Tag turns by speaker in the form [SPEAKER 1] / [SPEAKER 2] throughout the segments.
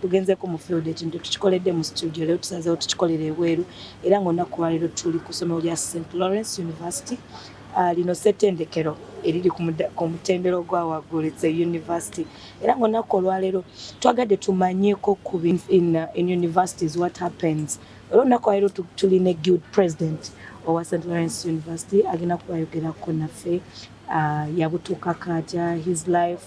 [SPEAKER 1] Tugenzeeko mu field ekintu tukikoledde mu studio leero tusazeewo tukikolera ebweru era ng'olunaku lwaleero tuli ku ssomero lya St Lawrence University Ah, lino ssettendekero eriri ku mutendera ogwa waggulu it's a university era ngaolunaku olwaleero twagadde tumanyeko ku in, uh, in universities what happens era olunaku lwaleero tuli ne guild president owa st lawrence university agenda kubayogerako naffe uh, yabutuuka katya his life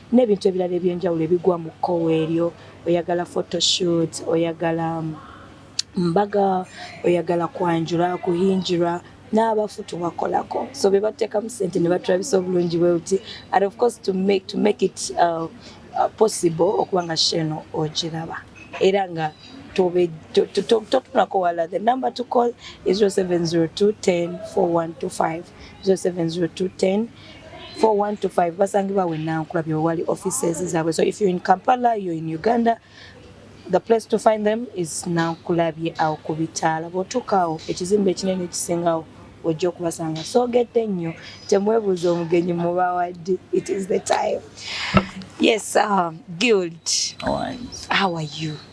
[SPEAKER 1] nebintu ebirala ebyenjawulo ebigwa mu kkowe eryo oyagala photoshoot oyagala mbaga oyagala kwanjula kuhinjirwa n'abafu tubakolako so be batteekamu ssente ne batulabisa obulungi bwe buti and of course to make, to make it uh, uh, possible okuba nga sheeno ogiraba era nga totunako wala the number to call is 0702 10 4125 0702 10 41 to 5 basangibwa we nankula byo wali offices zabwe so if you in Kampala you in Uganda the place to find them is nankula bye au kubitala botukawo ekizimbe kinene kisingawo ojja okubasanga so gete nnyo temwebuuza omugenyi mubawaddi it is the time yes uh, guild how are you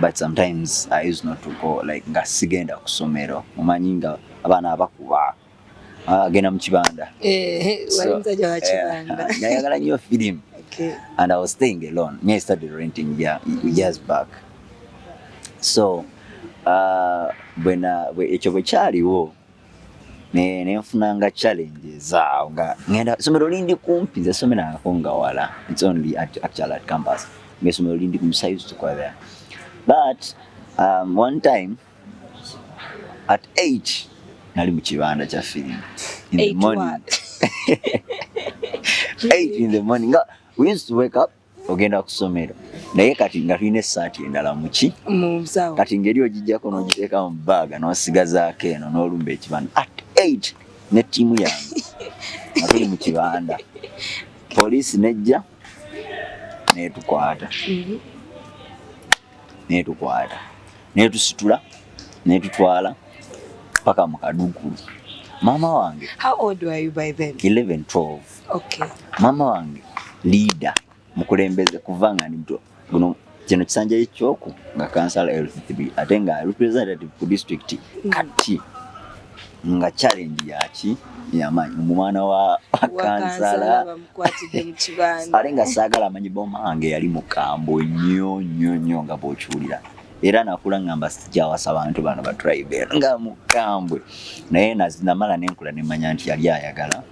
[SPEAKER 2] but sometimes I used not to go like nga sigenda ku somero omanyi nga abaana abakuba agenda mu kibanda
[SPEAKER 1] nayagala nyo film
[SPEAKER 2] and I was
[SPEAKER 1] staying
[SPEAKER 2] alone me I started renting yeah, years back so uh, ekyo bwe kyaliwo ne nenfunanga challenges awo nga ngenda somero lindi kumpi nze somero ako nga wala it's only at, actually at campus nga somero lindi kumpi so I used to go there but um, one time at 8 nali mu kibanda kya film in the morning 8 in the morning we used to wake up ogenda kusomero naye kati nga tulina esaati endala muki kati
[SPEAKER 1] ngeri ogijjako
[SPEAKER 2] nogiteeka mu baaga nosigazaako eno nolumba ekibanda at eight ne ttiimu yange nga tuli mu kibanda poliisi nejja netukwata mhm. netukwata netusitula netutwala paka mu kaduukulu maama wange how old were you by
[SPEAKER 1] then 11 12
[SPEAKER 2] okay. mama
[SPEAKER 1] wange
[SPEAKER 2] leader mukulembeze kuva nga ndi muto guno kino kisanja ekyoku nga kansala lcb ate nga representative ku district mm. kati nga challenge yaki yamaanyi omwana wa kansala
[SPEAKER 1] ate nga saagala amanyi
[SPEAKER 2] boma wange yali mukambwe nnyo nnyo nnyo nga bwokiwulira era nakula ngamba sijawasa bantu bano batribe nga mukambwe naye namala nenkula nemanya nti yali ayagala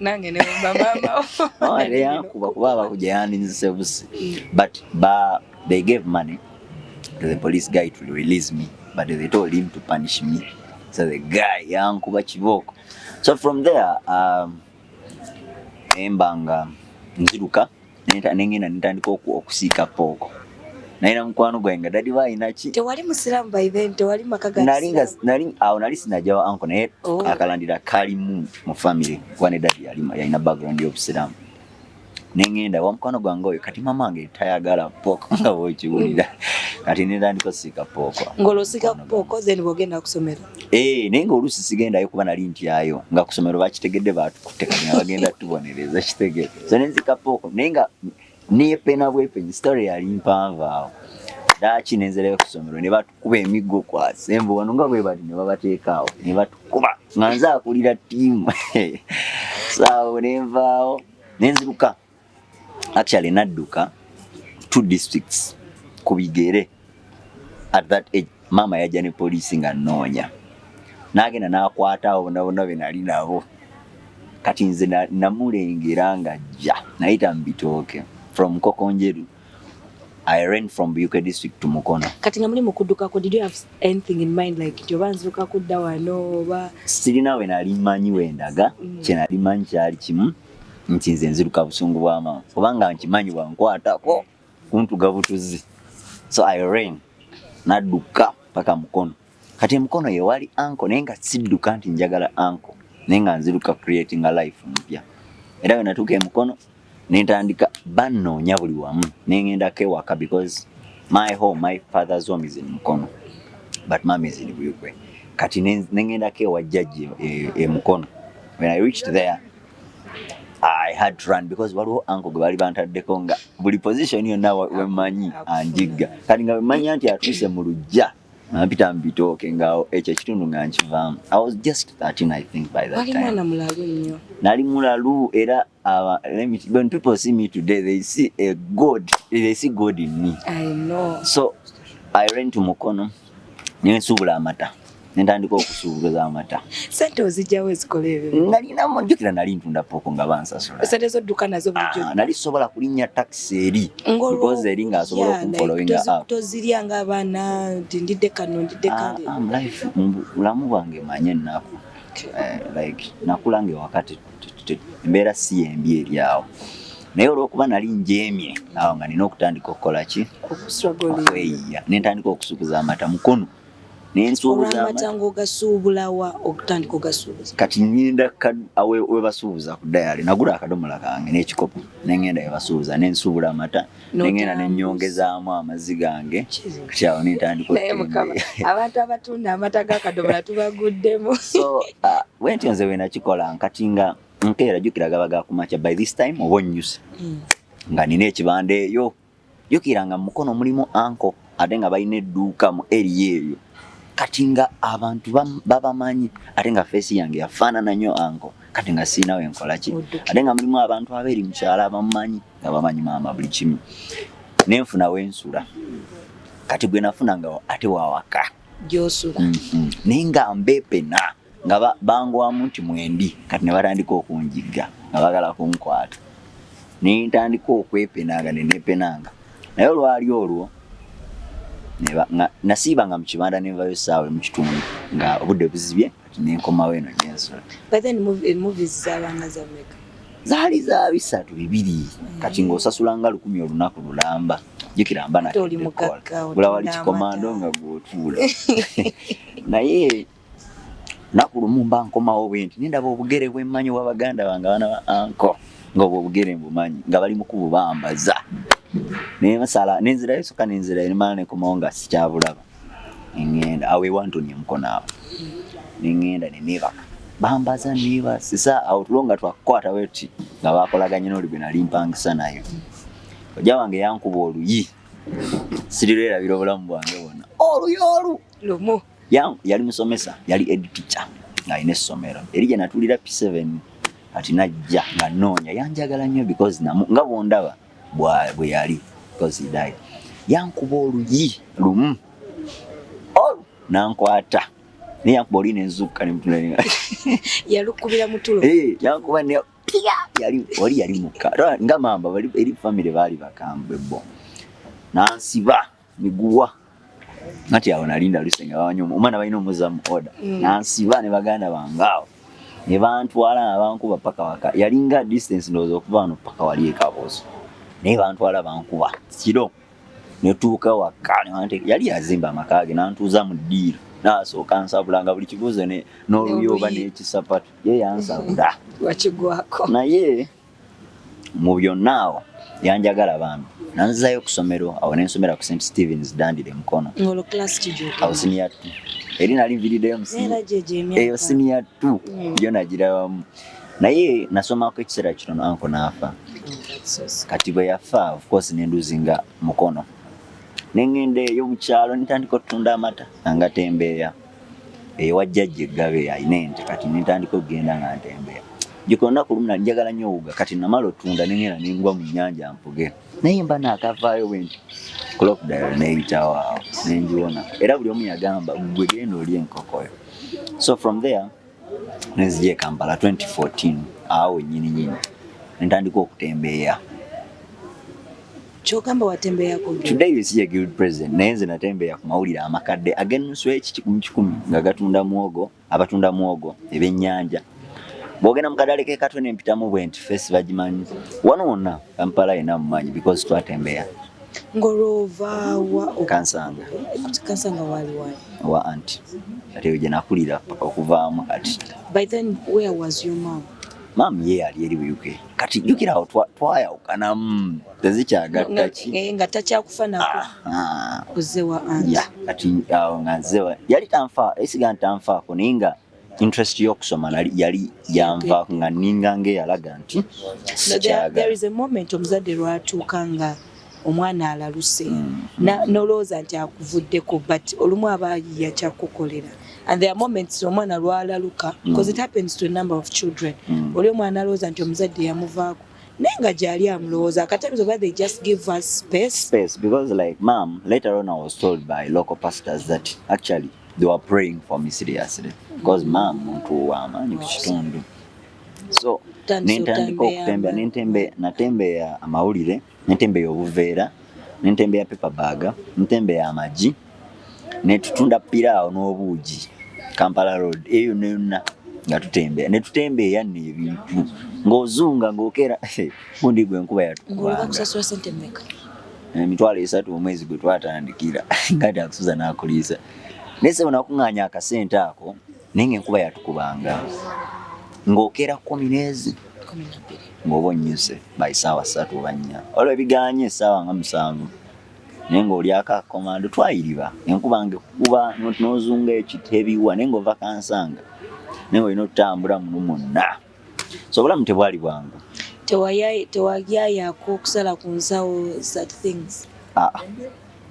[SPEAKER 2] nange
[SPEAKER 1] ne mama mawale yankuba
[SPEAKER 2] kuba abakuja yandinzise busi but ba they gave money to the police guy to release me but they told him to punish me so the guy yankuba kibooko so from there um, embanga nziruka nengenda netandika okusiika pooko naye na mukwano gwange nga dadi balina ki tewali musiramu by
[SPEAKER 1] then tewali maka ga nali nga nali awo nali
[SPEAKER 2] sinaja wa anko naye oh. akalandira kali mu mu family kwane dadi yali yalina background y'obusiramu nengenda wa mukwano gwange oyo kati mama wange tayagala pooko nga bwokiwulira kati netandika osiika pooko ng'olosika pooko
[SPEAKER 1] then bwogenda kusomero Ee, eh, naye nga oluusi
[SPEAKER 2] sigendayo kuba nali ntyayo nga ku ssomero bakitegedde baatukutte kanya bagenda tubonereza kitegere so ne nzikapooko naye nga neepena bwepeni sitole yali mpanvu awo daaki ne nzirayo ku ssomero ne batukuba emiggo kwase mbu wano nga bwe bali ne babateekaawo ne batukuba nga nze akulira ttiimu saawo ne nvaawo ne nziruka actually nadduka two districts ku bigere at that age maama yajja ne poliisi nga nnoonya n'agenda n'akwata abo bona bona be nali nabo kati nze namulengera nga jja nayita mu bitooke from nkokonjeru I ran from Buyuke district to Mukono. Kati nga muli mukuduka
[SPEAKER 1] ko did you have anything in mind like nti oba nzuka kudda wano oba sirina we nali
[SPEAKER 2] manyi wendaga mm. kye nali manyi kyali kimu nti nze nziruka busungu bwa maama kubanga nkimanyi bwankwatako kuntuga butuzi so i rain nadduka paka mukono kati emukono yewali anko naye nga sidduka nti njagala anko naye nga nziruka creating a life mpya era wenatuuka emukono nentandika bannoonya buli wamu nengendako ewaka because my home my father's home is in mukono but mama is in buyugwe kati nengendako ewajjajja emukono e, e when i reached there I had to run because waliwo anko gwe bali bantaddeko nga buli position yonna wemanyi anjigga kati nga wemanya nti atuuse mu lujja nampita mubitooke nga ekyo ekitundu nga nkivaamu i was just 13 i think by that time
[SPEAKER 1] nali mulalu
[SPEAKER 2] era uh, let me, when people see me today they see a god they see god in me I know. so i ran to mukono nensuubula amata nentandika okusuubuza amata sente ozijjawo
[SPEAKER 1] ezikola ebyo nalina mujjukira nali
[SPEAKER 2] ntunda pooko nga bansasula sente zodduka nazo
[SPEAKER 1] bulijjo ah, nali sobola kulinnya
[SPEAKER 2] takisi eri because eri nga asobola okumfolowinga up tozirya nga abaana
[SPEAKER 1] nti ndidde kano ndidde ah, kale ah,
[SPEAKER 2] bulamu bwange manye ennaku eh, like nakula nga ewakati embeera si yembi eri awo naye olwokuba nali njemye awo nga nina okutandika okukola ki okweyiya nentandika okusuubuza amata mukono
[SPEAKER 1] kati ngenda
[SPEAKER 2] webasuubuza ku dayale nagula akadomola kange nekikopo nengenda webasuubuza nensuubula amata nengenda nenyongezaamu amazzi gange kati awo nentandikabantu
[SPEAKER 1] abatunda amata gakadomola tubaguddemu so uh,
[SPEAKER 2] wentyo nze wenakikola nkati nga nkeera jukira gaba gakumakya by this time oba onyuse mm. nga nina ekibanda eyo jukira nga mukono mulimu anko ate nga balina edduuka mu eriya eyo kati nga abantu babamanyi ate nga feesi yange yafaanana nnyo anko kati nga siinawe nkolaki ate nga mulimu abantu abeeri mukyalo abamumanyi nga bamanyi maama buli kimu nenfuna wensula kati gwe nafuna nga ate wawaka gyosula mm
[SPEAKER 1] -hmm. naye nga
[SPEAKER 2] mbepena nga bangwamu nti mwendi kati ne batandika okunjigga nga bagala kunkwata naye ntandika okwepenanga nenepenanga naye olwali olwo nasiibanga mu kibanda nenvayo saawe mu kitundu nga obudde buzibye nenkomawo eno
[SPEAKER 1] gyensula zaali za
[SPEAKER 2] bisatu bibiri mm. kati ng'osasula nga lukumi olunaku lulamba jukira mba nakola wali kikomando nga gwotuula naye naku lumu mba nkomawo bwenti nendaba obugere bwemmanyi wa baganda bange abaana ba anko ng'obwo obugere mbumanyi nga bali mu kububambaza naye masala nenzirayo soka nenzirayo nemala nekomawo nga sikyabulaba nengenda awo ewantonya mukono awo nengenda nenebaka bambaza nebasiza awo tulo nga twakukwata weti nga bakolaganye noli gwe nali mpangisa nayo oja wange yankuba oluyi sirirerabira obulamu bwange bwona oluyi olu lumu
[SPEAKER 1] yali
[SPEAKER 2] musomesa yali ed teacher ng'alina essomero eri gye natulira p7 kati najja nga noonya yanjagala nnyo because namu nga bwondaba bwe yali kozidayi yankuba oluyi lumu olu nankwata naye yankuba oluyi nenzukka nemutulaa yalukubira
[SPEAKER 1] mutulo eh, yankuba ne
[SPEAKER 2] yali oli yali mukka nga mamba eri famire baali bakambwe bo nansiba miguwa nati awo nalinda lusenga bawanyuma omwana balina omuza mu oda mm. nansiba ne baganda bange awo ne bantwala nabankuba paka waka yalinga distance ndowooza okuva wano paka wali ekaboozo naye bantwala bankuba kiro netuuka waka yali yazimba amaka ge nantuuza mu ddiiro nasooka nsabulanga buli kibuuzo n'oluyooba n'ekisapatu ye yansabula
[SPEAKER 1] naye
[SPEAKER 2] mu byonna awo yanjagala bambi nanzizayo ku ssomero awo ne nsomera ku st stevens dandira emukono awo
[SPEAKER 1] siniya t
[SPEAKER 2] eri nali nviriddeyo eyo siniya t yo nagirabamu naye nasomako ekiseera kitono anko naafa kati bwe yafa ofcourse nenduzinga mukono nengenda eyo mukyalo nitandika otunda amata angatembeeya ewa jjajja eggabe alina ente kati nentandika okugenda nga ntembeya jjuka olunaku lumu nali njagala nnyo owuga kati namala otunda nengenda nengwa mu nnyanja mpuge naye mba naakavaayo bwe nti crocodile neeyitawo awo nengiwona era buli omu yagamba gwe genda oli enkokoyo so from there nenzije Kampala 2014 awo nyini nyini ntandika okutembeeya
[SPEAKER 1] kyogamba watembeeya ku today you see a guild
[SPEAKER 2] president naye nze natembeeya ku mawulire amakadde ag'ennusu ekikikumi kikumi nga gatunda muwogo abatunda muwogo ebyennyanja bwogenda mu kadale ke katwe nempitamu bwenti fesi bagimanyi wano wonna kampala yena mumanyi because twatembeeya Ngolova
[SPEAKER 1] wa kansanga
[SPEAKER 2] kansanga wali wali
[SPEAKER 1] wa aunt
[SPEAKER 2] ate yo
[SPEAKER 1] jenakulira
[SPEAKER 2] paka
[SPEAKER 1] okuvaamu kati
[SPEAKER 2] by
[SPEAKER 1] then
[SPEAKER 2] where
[SPEAKER 1] was
[SPEAKER 2] your
[SPEAKER 1] mom
[SPEAKER 2] mom ye yali eri mu UK kati jukira awo twayawukana mm, tezikyagattaki eh, nga takyakufa
[SPEAKER 1] nako ah, ah. ozze wa aunt kati awo nga
[SPEAKER 2] nzewa yali tanfa esiga ntanfaako naye nga interest y'okusoma yali yanva nga ninga ng'eyalaga nti sikyagalaomumenti
[SPEAKER 1] omuzadde lwatuuka nga omwana alaluse mm-hmm. nolowooza nti akuvuddeko but olumu aba yiya kyakukolera and there are moments omwana lwalaluka because mm. it happens to a number of children mm. oli omwana alowooza nti omuzadde yamuvaako naye nga gyali amulowooza akatamizo ba they just give us space space because like mam
[SPEAKER 2] later on i was told by local pastors that actually they were praying for me seriously because maama muntu wamaanyi ku kitundu so nentandika okutembeya nentembeya natembeya amawulire nentembeya obuveera nentembeya paper bag nentembeya amagi netutunda piraawo n'obuugi kampala road eyo neyonna nga tutembeya netutembeya nno ebintu ng'ozunga ng'okera gundi gwe enkuba yatukuba
[SPEAKER 1] emitwalo
[SPEAKER 2] esatu omwezi gwe twatandikira nga takusuza n'akuliisa naye sebo nakung'anya akasente ako naye nga enkuba yatukubanga ng'okeera kumi n'ezi ng'oba onnyuse by saawa ssatu oba nnya olwo ebiganye essaawa nga musanvu naye ng'olyako akomando twayiriba enkuba nga ekukuba n'ozunga ekitebiwa naye ng'ova kansanga naye olina otutambula muno mwonna so obulamu tebwali bwangu tewagyayako
[SPEAKER 1] okusala ku nsawo such things ah,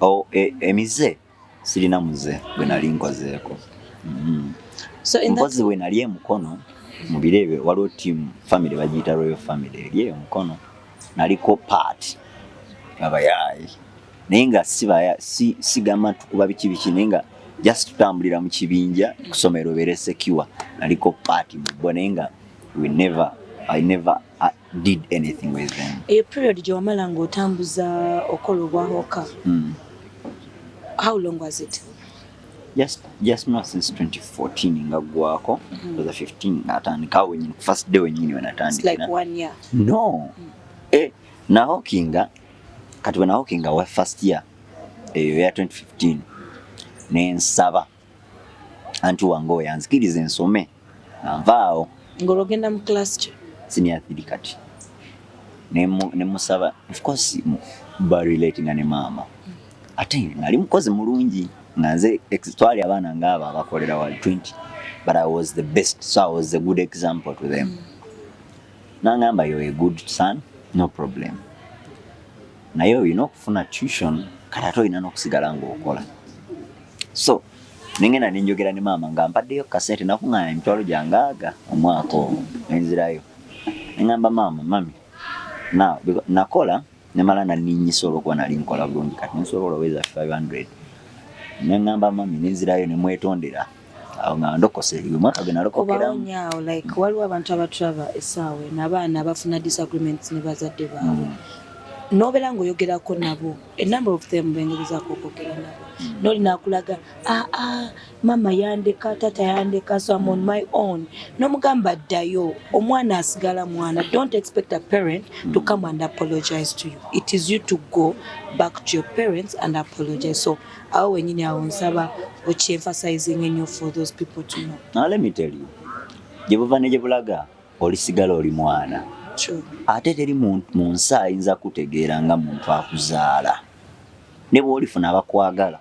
[SPEAKER 1] oh, e,
[SPEAKER 2] emize sirina muze gwe nali nkozeeko mm-hmm. mpozi we nali emukono mu biro ebyo waliwo tiamu famiry bagiyita royal famiry eri eyo mukono naliko part abayaye naye nga sibaya si sigama tukuba biki biki naye nga just tutambulira mu kibinja kusomero bere secure naliko part mubbo naye nga we never i never I uh, did anything with them eyo period gye wamala
[SPEAKER 1] nga otambuza okola obwahoka mm. how long was it just
[SPEAKER 2] just not since 2014 nga gwako mm -hmm. was 15 nga atandika wenye first day wenye ni wanatandika like one year
[SPEAKER 1] no mm -hmm.
[SPEAKER 2] eh na hokinga kati wana hokinga wa first year eh ya 2015 ne nsaba antu wango yanzikirize nsome nvaawo ngologenda mu
[SPEAKER 1] class ki senior 3 kati
[SPEAKER 2] ne ne musaba of course ba relating ne mama mm -hmm. ate nali mukozi mulungi nga nze twali abaana ngaabo abakolera wali 20 but i was the best so i was a good example to them nangamba yo a good son no problem naye olina okufuna tution kati ate olina n'okusigala ngaokola so nengenda nenjogera ne maama nga mpaddeyo kasente nakungana emitwalo gyangaaga omwaka omu nenzirayo nengamba maama mami nakola nemala naninyisa olwokuba nali nkola bulungi kati nensobola oweza 500 nengamba mami nenzirayo nemwetondera awo nga ndokose omwaka gwe nalokokeraobaonyawo like mm. waliwo
[SPEAKER 1] abantu abatrava esaawa eno abaana abafuna disagreements ne bazadde baabwe mm. nobera ngaoyogerako nabo enumber of them bengezako okwogera nabo mm. noli nakulaga aa ah, ah, Mama yandeka tata yandeka so am on my own nomugamba ddayo omwana asigala mwana don't expect a parent to mm. come and apologize to you it is you to go back to your parents and apologize so awo wenyini awo nsaba okyenfasizing enyo for those people to know now let me tell you
[SPEAKER 2] gyebuva ne gyebulaga olisigala oli mwana ate
[SPEAKER 1] teri
[SPEAKER 2] mu nsi ayinza kutegeera nga muntu akuzaala ne bwolifuna abakwagala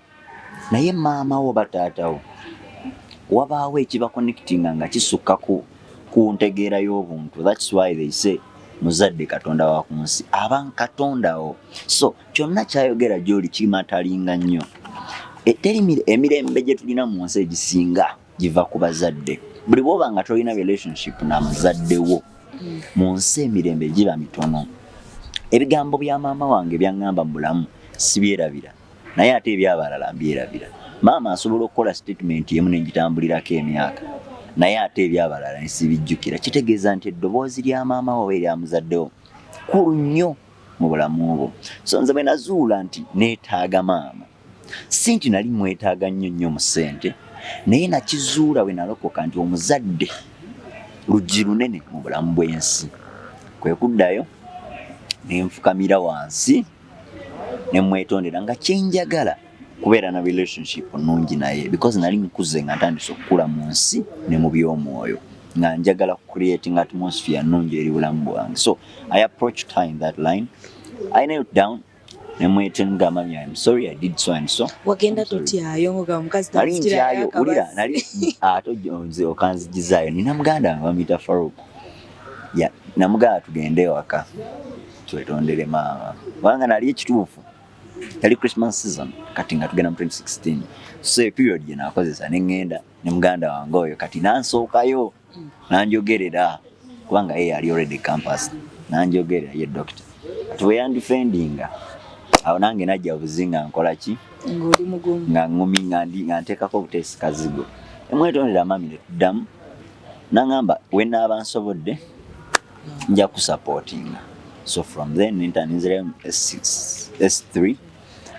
[SPEAKER 2] naye maama wo oba taata wo wabaawo ekibakonekitinga nga kisukka ku ku ntegeera y'obuntu thats why they say muzadde katonda wa ku nsi aba katondawo so kyonna kyayogera gyoli kimatalinga nnyo e, teri emirembe gye tulina mu nsi egisinga giva ku bazadde buli bwoba nga tolina relationship na muzadde wo mu nsi emirembe giba mitono ebigambo bya maama wange byaŋŋamba mu bulamu sibyerabira naye ate ebyabalala mbyerabira maama asobola okukola statement emu nenjitambulirako emyaka naye ate ebyabalala nsibijjukira kitegeeza nti eddoboozi lya maama wo oba eryamuzaddewo kulu nnyo mu bulamu bwo so nze bwe nazuula nti neetaaga maama si nti nali mwetaaga nnyo nnyo mu ssente naye nakizuula bwe nalokoka nti omuzadde luggi lunene mu bulamu bw'ensi kwe kuddayo nenfukamira wansi nemwetondera nga kyenjagala kubeera na relationship nungi naye because nali nkuze nga ntandise okukula mu nsi ne mu by'omwoyo nga njagala creating atmosphere nungi eri bulamu bwange so i approach her in that line i knelt down nemwetenga mami im sorry i did so and so wagenda tutyayo
[SPEAKER 1] ngoga omukazi nali ntyayo ulira
[SPEAKER 2] nali ato jonze okanzigizayo nina muganda bamita farouk ya namugala tugende ewaka twetondere maama kubanga nali ekituufu yali christmas season kati nga tugenda mu 2016 so period gye nakozesa ne ŋŋenda ne muganda wange oyo kati nansookayo nanjogerera kubanga ye yali already campus nanjogerera ye dokita kati bwe yandifendinga awo nange najja buzi nga nkola ki nga
[SPEAKER 1] ŋumi
[SPEAKER 2] nga nteekako obuteesi kazigo emwetondera mami ne tuddamu naŋamba we naaba nsobodde nja kusapotinga so from then nenta ninzirayo mu s3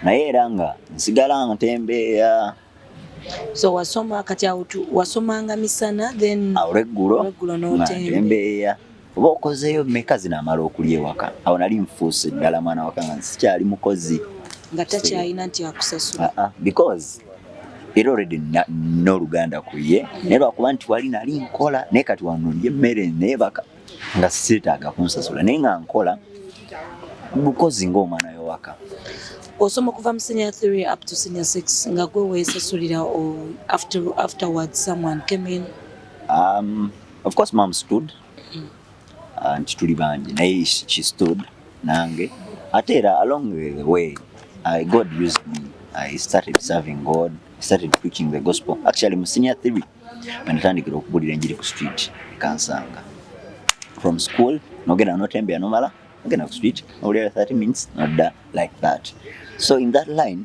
[SPEAKER 2] naye era nga nsigala ntembeeya so
[SPEAKER 1] wasoma kati awutu wasomanga misana then awuleggulo
[SPEAKER 2] ntembeeya oba okozeeyo meka zinamala okulya ewaka awo nali nfuuse ddala mwana waka nga sikyali mukozi nga takyalina
[SPEAKER 1] nti akusasula ah, ah, because
[SPEAKER 2] era already n'oluganda ku ye naye lwakuba nti wali nali nkola naye kati wano ndi emmere neebaka nga seetaaga kunsasula naye nga nkola bukozi ng'omwana yowaka osoma
[SPEAKER 1] okuva mu senior theory up to senior six nga gwe weesasulira after, afterwards someone came in um,
[SPEAKER 2] of course mom stood mm. nti tuli bangi naye she stood nange ate era along the way I, God used me I started serving God I started preaching the gospel actually mu senior theory wenatandikira okubulira enjiri ku street ekansanga from school nogenda notembea nomala ogenda ku street nobulira 30 minutes nodda like that so in that line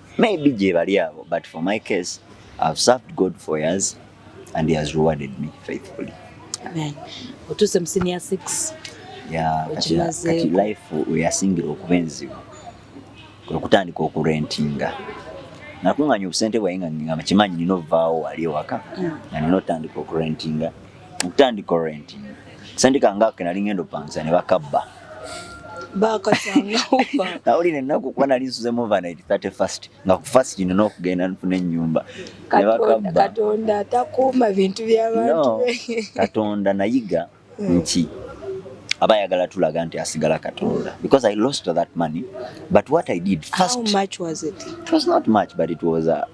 [SPEAKER 2] maybe gyebali abo but for my case I've served God for years and he has rewarded me faithfully Amen.
[SPEAKER 1] Otuse mu senior 6. Yeah, kati,
[SPEAKER 2] kati life uyasingira okuba enzibu kwe kutandika okurentinga nakunganya obusente bwaye nga nkimanyi nina ovaawo wali ewaka mm. nga nina otandika okurentinga mm. okutandika orenti sendika ngake nali ngendo pansa ne bakabba
[SPEAKER 1] nawulira ennaku kuba
[SPEAKER 2] nali nsuze movanit 31st nga ku fast ino n'okugenda nfuna ennyumba katonda atakuuma
[SPEAKER 1] bintu byabantu katonda
[SPEAKER 2] nayiga hmm. nti aba ayagala tulaga nti asigala katonda because i lost that money but what i did first How much was it?
[SPEAKER 1] it was not much but
[SPEAKER 2] it was a, uh,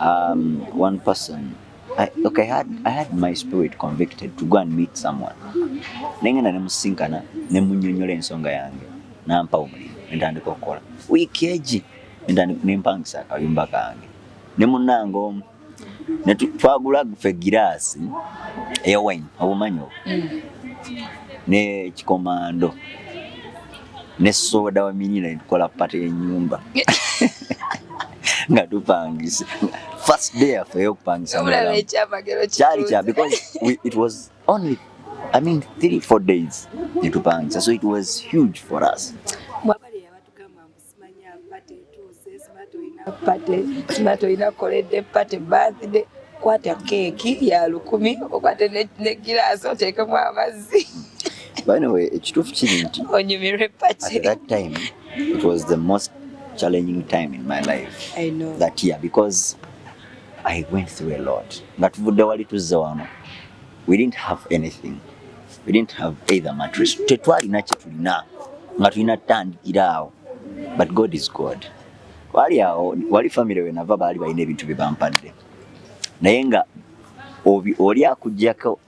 [SPEAKER 2] um, one person I, okay, I had, I had my spirit convicted to go and meet someone naye ngenda nemusinkana nemunyonyola ensonga yange nampa omulimu nentandika okukola wiiki egi nempangisa akayumba kange ne munange omu twagula fe giraasi eya wine obumanyi obwo mm. nekikomando ne soda wa minina netukola pate yenyumba nga tupangisa first day yaffe eyokupangisa kyali kya because we, it was only i mean three four days netupangisa so it was huge for us pate etuuse
[SPEAKER 1] smart olina pate smart olina koledde pate birthday kwata keeki ya lukumi okwate ne giraasi oteekemu amazzi banawe
[SPEAKER 2] ekituufu kiri nti onyumirwe pate at that time it was the most challenging time in my life I know. that year because I went through a lot nga tuvudde wali tuzze wano we didn't have anything we didn't have either mattress tetwalina kyetulina nga tulina tutandikira awo but god is god wali awo wali famire wenava baali balina ebintu bye bampadde naye nga oli akujjako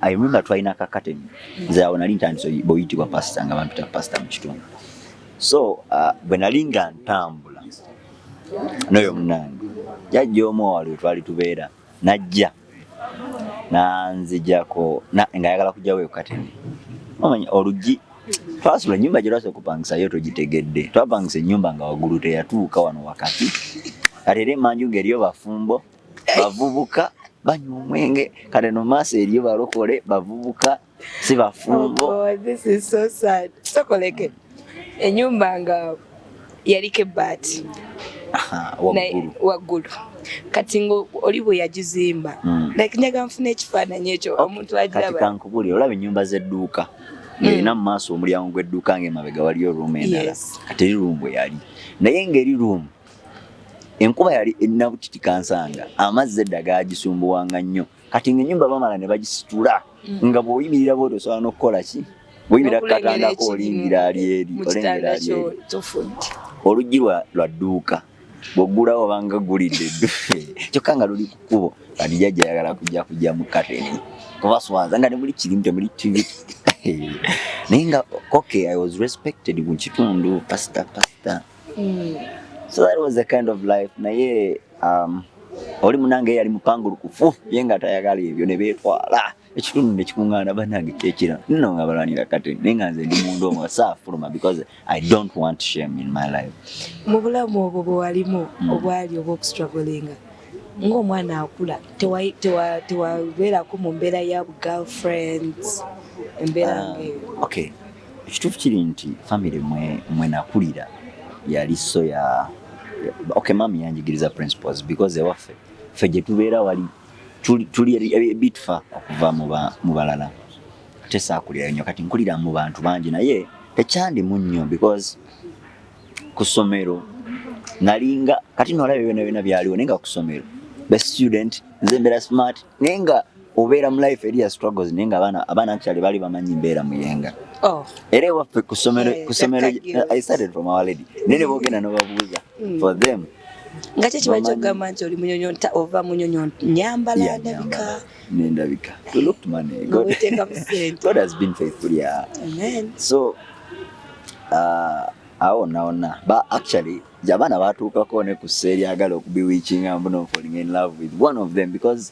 [SPEAKER 2] ayimumba twalina kakateni nze awo nali ntandise bweyitibwa pasita nga bampita pasita mu kitundu so bwe nali nga ntambula noyo munange jajja omu owali wetwali tubeera najja nanzijako ng'ayagala kujjawo ekukateni omanya oluggi twasula ennyumba gye lwasa okupangisayo togitegedde twapangisa ennyumba nga waggulu teyatuuka wano wakati kati era emanju ng'eriyo bafumbo bavubuka banywa omwenge kale no maaso eriyo balokole bavubuka si bafumbo. Oh God, this is so
[SPEAKER 1] sad. Sokoleke enyumba nga yaliko ebbaati waggulu kati nga oli bwe yagizimba hmm. like njaga nfuna ekifaananyi ekyo omuntu agiraba kankubuli olaba ennyumba
[SPEAKER 2] z'edduuka hmm. ng'erina mu maaso omulyango gw'edduuka ng'emabega waliyo ruumu endala kati eri ruumu bwe yali naye ng'eri ruumu enkuba yali erina butiti kansanga amazzi edda gaagisumbuwanga nnyo kati nga enyumba bamala ne bagisitula mm. nga bwoyimirira bwoti osobola nokukola ki bwoyimirira kukatandako olingira ali eri olengera ali eri oluggi lwa dduuka bwoggulawo obanga gulidde eddufe kyokka nga luli ku kkubo kati jajja ayagala kujja kujja mu kateni kubaswaza nga nemuli kirimu temuli tivi naye nga okay i was respected mu kitundu pasita pasita mm. so that was the kind of life naye um, oli munange yali mupangulukufu ye nga tayagala ebyo ne beetwala ekitundu ne kikuŋŋaana bannange kyekira nno nga balwanira kati naye nga nze ndi mundu omu saafuluma because i don't want shame in my life mu bulamu obwo
[SPEAKER 1] bwe walimu hmm. obwali obw'okustragolinga ng'omwana akula tewabeerako mu mbeera ya girlfriends embeera ah, ngaeyo okay
[SPEAKER 2] Ekituufu kiri nti famire mwe mwe nakulira yali so ya okay maam yanjigiriza principles because ewaffe ffe gye tubeera wali tuli, tuli ebitfa okuva mu balala ate saakulirayo nnyo kati nkulira mu bantu bangi naye tekyandimu nnyo because ku ssomero nalinga kati nolaba byona byona byaliwo naye nga ku ssomero be student nze mbeera smart naye nga obeera mu life eri ya struggles naye nga abaana abaana actually bali bamanyi mbeera muyenga oh. era ewaffe ku ssomero ku ssomero i started from our lady naye ne boogenda n'obabuuza mm. for them nga kyo kiba
[SPEAKER 1] kyogamba nti oli munyonyo ova munyonyo nyambala ndabika
[SPEAKER 2] nendabika we looked money god, god has been faithful yeah amen so uh, awo nawona ba actually abaana batuukako ne ku seeri agala okubiwikinga mbuno falling in love with one of them because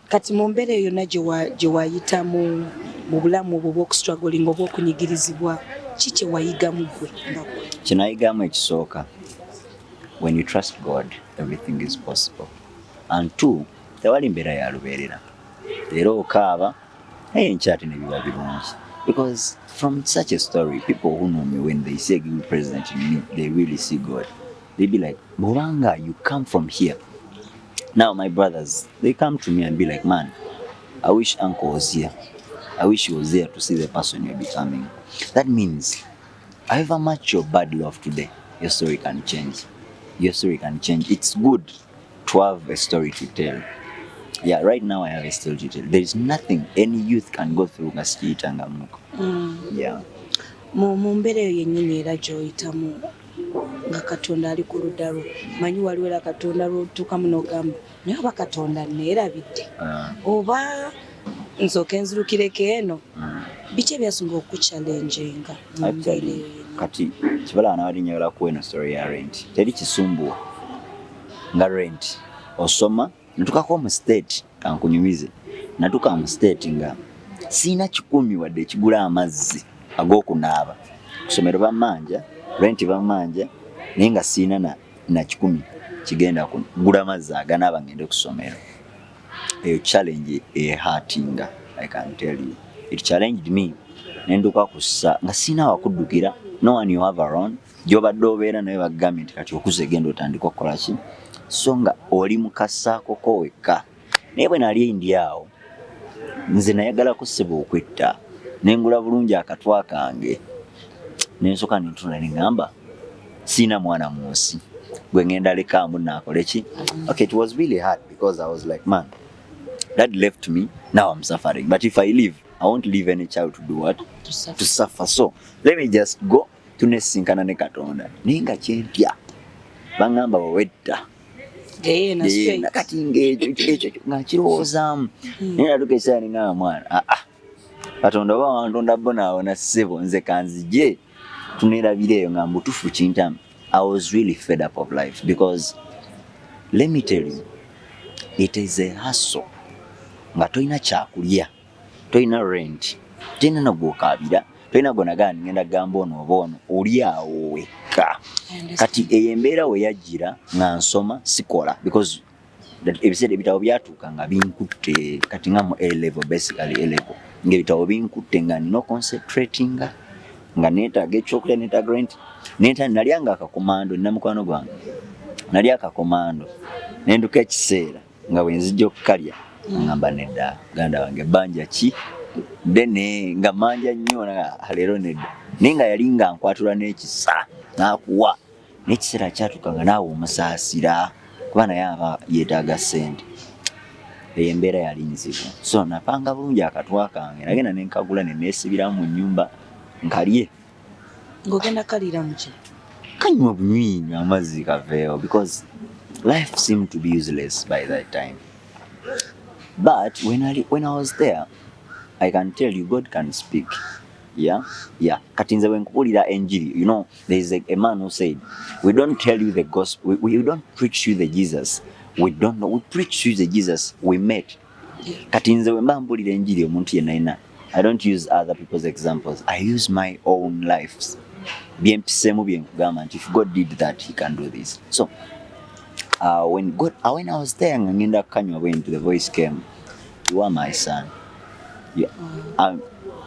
[SPEAKER 2] kati mu mbeera eyo
[SPEAKER 1] yonna gye wayitamu mu bulamu obwo obwokustragolinga oba okunyigirizibwa ki kye wayigamu gwe nga gwe kye nayigamu ekisooka
[SPEAKER 2] when you trust god everything is possible and two tewali mbeera ya lubeerera leero okaaba naye enkyate ne biba birungi because from such a story people who know me when they say give president in me they really see god they be like bobanga you come from here now my brothers they come to me and be like man i wish uncle was here i wish he was there to see the person you're becoming that means however much your bad love today your story can change your story can change it's good to have a story to tell yeah right now i have a story to tell there is nothing any youth can go through nga sikiyitangamuko mm. yeah
[SPEAKER 1] mu mbeera eyo yennyini era gy'oyitamu nga katonda ali kuludalu manyi waliwo era katonda lwotukamu nogamba naye oba katonda nerabidde ah. oba nsoke nzirukireko eno ah. biki ebyasinga okukuchallengenga
[SPEAKER 2] kati kibala anabadde njagala kuwa eno story ya rent teri kisumbuwa nga rent osoma natukako mu state kankunyumize natuka mu state nga siina kikumi wadde ekigula amazzi ag'okunaaba kusomero bamanja renti bamanja naye nga siina na, na kikumi kigenda kugula amazzi aganaaba ngende ku ssomero eyo challenge ehatinga i can tell you it challenged me nenduka kussa nga siina wakuddukira no one you have around gyobadde obeera naye bagambye nti kati okuze genda otandika okukola ki so nga oli mukasaakoko wekka naye bwe nali ndi awo nze nayagala kusiba okwetta nengula bulungi akatwa kange nensoka nentula nengamba siina mwana mu nsi gwe ngenda lekaamu naakole ki okay it was really hard because i was like man that left me now i'm suffering but if i live i won't leave any child to do what to suffer, to suffer. so let me just go tunesinkana ne katonda naye nga kyentya baŋamba wewedda
[SPEAKER 1] kati ngaekyo
[SPEAKER 2] ngakirowoozaamu hmm. naye natuka ekisaala nengamba mwana aa ah, ah. katonda oba wantonda bonaawona ssebo nze kanzije tunerabira eyo nga mbutufu kintamu i was really fed up of life because let me tell you it is a hustle nga tolina kyakulya tolina rent tolina nagwokaabira tolina gwonagaa ngenda kugamba ono oba ono oli awo wekka kati eyo embeera we yajjira nga nsoma sikola because ebiseera ebitabo byatuuka nga binkutte kati nga mu alevel basically alevel ngaebitabo binkutte nga nina oconcentratinga nga netaaga ekyokulya netaaga rent neta nalya nga akakomando nina mukwano gwange nalya akakomando nenduka ekiseera nga bwe nzija okukalya ngamba nedda ganda wange banja ki dene nga manja nnyo leero nedda naye nga yali nga nkwatula n'ekisa n'akuwa n'ekiseera kyatuka nga naawe omusaasira kuba naye aba yeetaaga ssente eyo embeera yali nzibu so napanga bulungi akatwa kange nagenda nenkagula neneesibiramu mu nnyumba nkalye
[SPEAKER 1] ng'ogenda kaliira mu ki kanywa bunywi
[SPEAKER 2] nywa amazzi kaveewo because life seemed to be useless by that time but when I, when I was there I can tell you God can speak yeah yeah kati nze wenkubulira enjiri you know there is a, a man who said we don't tell you the gospel we, we don't preach you the Jesus we don't know we preach you the Jesus we met kati nze wemba mbulira enjiri omuntu yenayina i don't use other people's examples i use my own lifes byempisemu byenkugamba nti if god did that he can do this so uh, when god uh, when i was there nga ngenda kukanywa bwenti the voice came you are my son you, um,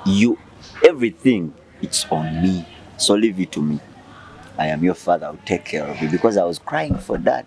[SPEAKER 2] you everything it's on me so leave it to me i am your father I'll take care of you because i was crying for that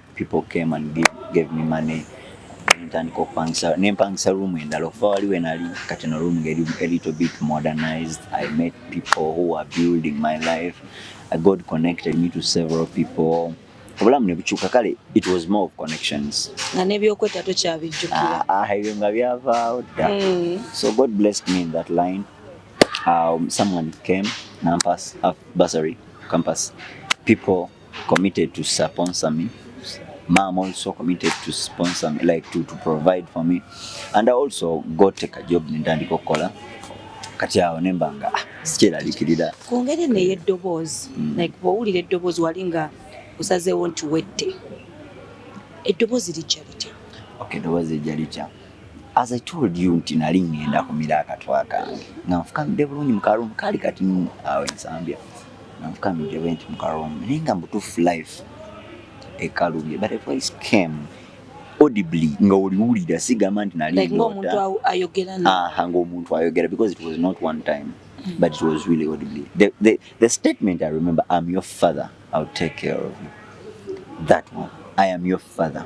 [SPEAKER 2] people came and give, gave me money ntandika okupangisa nempangisa room endala okuva wali wenali kati no room ngeri a little bit modernized i met people who are building my life i god connected me to several people obulamu nebukyuka kale it was more of connections nga nebyokwetta
[SPEAKER 1] tokyabijjukira ah, ah, ebyo nga
[SPEAKER 2] byavaawo dda mm. so god blessed me in that line um, someone came nampas uh, basary campus people committed to sponsor me mom also committed to sponsor me like to, to provide for me and I also got take a job nendandika okukola kati awo nemba nga ah, sikyeralikirira ku ngeri eno
[SPEAKER 1] ey'eddoboozi mm. like bwowulira eddoboozi wali nga osazeewo nti wette eddoboozi lijja litya okay eddoboozi lijja
[SPEAKER 2] litya as i told you nti nali ngenda kumira akatwa kange nga nfukamidde bulungi mukalumu kaali kati awo ensambya Navuka mbu they went muka room naye nga mbutuufu life ekalubye but a voice came audibly nga oliwulira sigamba nti nali like, omuntu ayogera
[SPEAKER 1] aha ng'omuntu ayogera
[SPEAKER 2] because it was not one time mm. but it was really audibly the, the, the statement i remember i'm your father i'll take care of you that one i am your father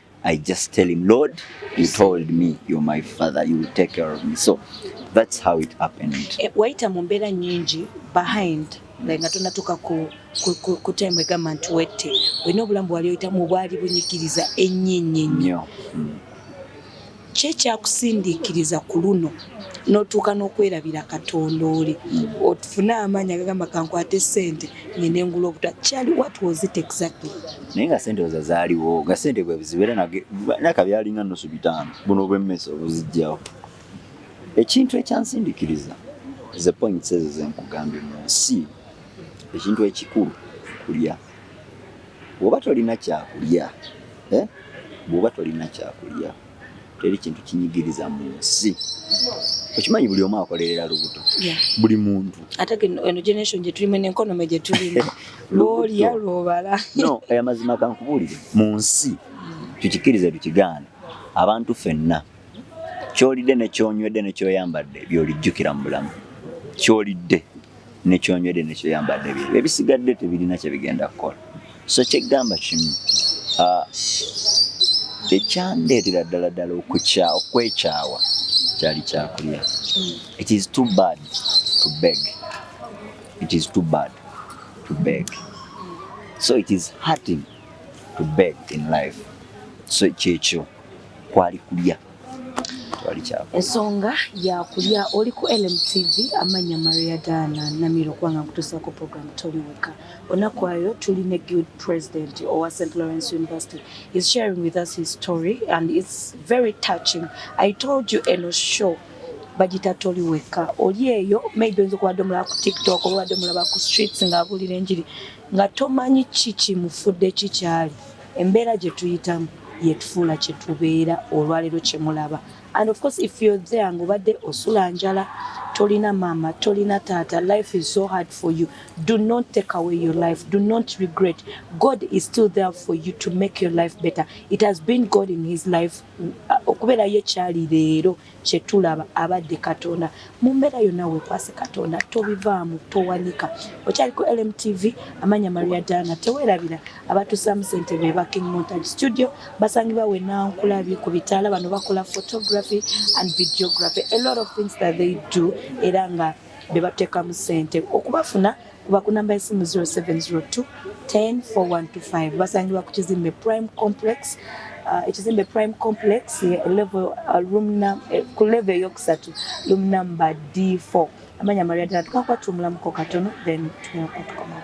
[SPEAKER 2] I just tell him, Lord, you told me you're my father, you will take care of me. So that's how it happened. Eh, Waita mumbera
[SPEAKER 1] nyingi behind like nga tonatuka ku, ku, ku, ku time egamba nti wette olina obulamu bwali oyitamu bwali bunyigiriza ennyo ennyo ennyo mm. Ki ekyakusindiikiriza ku luno n'otuuka n'okwerabira Katonda oli ofune amaanyi agagamba kankwate ssente ngende ngula obutwa kyali what was it exactly? Naye nga ssente oza
[SPEAKER 2] zaaliwo nga ssente bwe buzibu era naka byalinga nnusu bitaano buno obw'emmese obuzijjawo ekintu ekyansindikiriza ze points ezo ze nkugambye mu nsi ekintu ekikulu kulya. bw'oba tolina kyakulya eh, bw'oba tolina kyakulya teri kintu kinyigiriza mu nsi okimanyi buli omu akolerera lubuto buli muntu ate eno
[SPEAKER 1] generation gyetulimu nenkonome gyetulimu lwolya lwobala no aya mazima
[SPEAKER 2] kankubuulire mu nsi tukikirize tukigaana abantu fenna kyolidde nekyonywedde nekyoyambadde byolijjukira mu bulamu kyolidde nekyonywedde nekyoyambadde bye ebisigadde tebirina kyebigenda kukola so kyegamba kimu ah, ekyandeetera ddala ddala okukya okwekyawa kyali kyakulya hmm. it is too bad to beg it is too bad to beg so it is hurting to beg in life so kyekyo kwali kulya ensonga
[SPEAKER 1] yakulya oli ku lmtv amanya maria dana namiro kubanga nkutusaako program toli weka onakwayo tuli ne guild president owa st lawrence university is sharing with us his story and its very touching i told you eno show bagita toli weka oli eyo maybe oyinza okubadde omulaba ku tiktok oba obadde omulaba ku streets ng'abuulira enjiri Nga tomanyi ki kimufudde ki kyali. Embeera gye tuyitamu yetufuula kye tubeera olwalero kye mulaba and of course if you're there nga obadde osula njala tolina maama tolina taata life is so hard for you do not take away your life do not regret God is still there for you to make your life better it has been God in his life uh, okubeera ye kyali leero kyetulaba abade katonda mumbera yona wekwase katonda tobivaamu towanika okyali ku LMTV amanya maria diana tewerabira abatusamu sente beba king montage studio basangibwa wena nkulabye ku bitaala bano bakola photography and videography a lot of things that they do era nga bebatekamu sente okubafuna Kuba ku namba y'essimu 0702 10 4125 basangibwa ku kizimbe Prime Complex uh, ekizimbe Prime Complex eh, level, uh, room num, eh, ku level eyokusatu room number D4 amanya maria ddala tukakwattumulamuko katono then tunakuba tukomala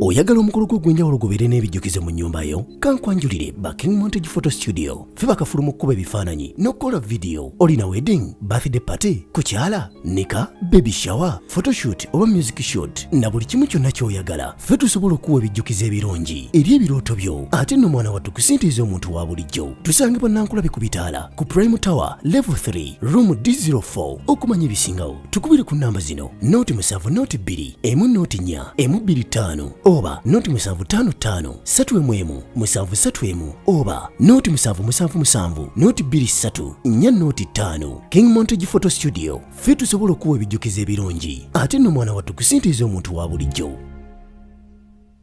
[SPEAKER 3] oyagala omukolo gw'ogwenjawulo gubeere n'ebijjukizo mu nnyumba yo kankwanjulire ba king montage photo studio ffe bakafulu mu kkuba ebifaananyi n'okukola vidiyo olina wedding birthday party kukyala nika baby shower photoshoot oba music shot na buli kimu kyonna ky'oyagala ffe tusobola okuwa ebijjukizo ebirungi eri ebirooto byo ate nno mwana wattu kusintiiza omuntu wa bulijjo tusange bannankulabe ku bitaala ku prime tower level 3 room d04 okumanya ebisingawo tukubire ku namba zino noti musanvu noti bbiri emu noti nnya emu bbiri ttaano oba noti musanvu ttaano ttaano ssatu emu emu musanvu ssatu emu oba noti musanvu musanvu musanvu noti bbiri ssatu nnya noti ttaano king montage photo studio ffe tusobola okuwa ebijjukizo ebirungi ate nno mwana wattu kusintiiza omuntu wa bulijjo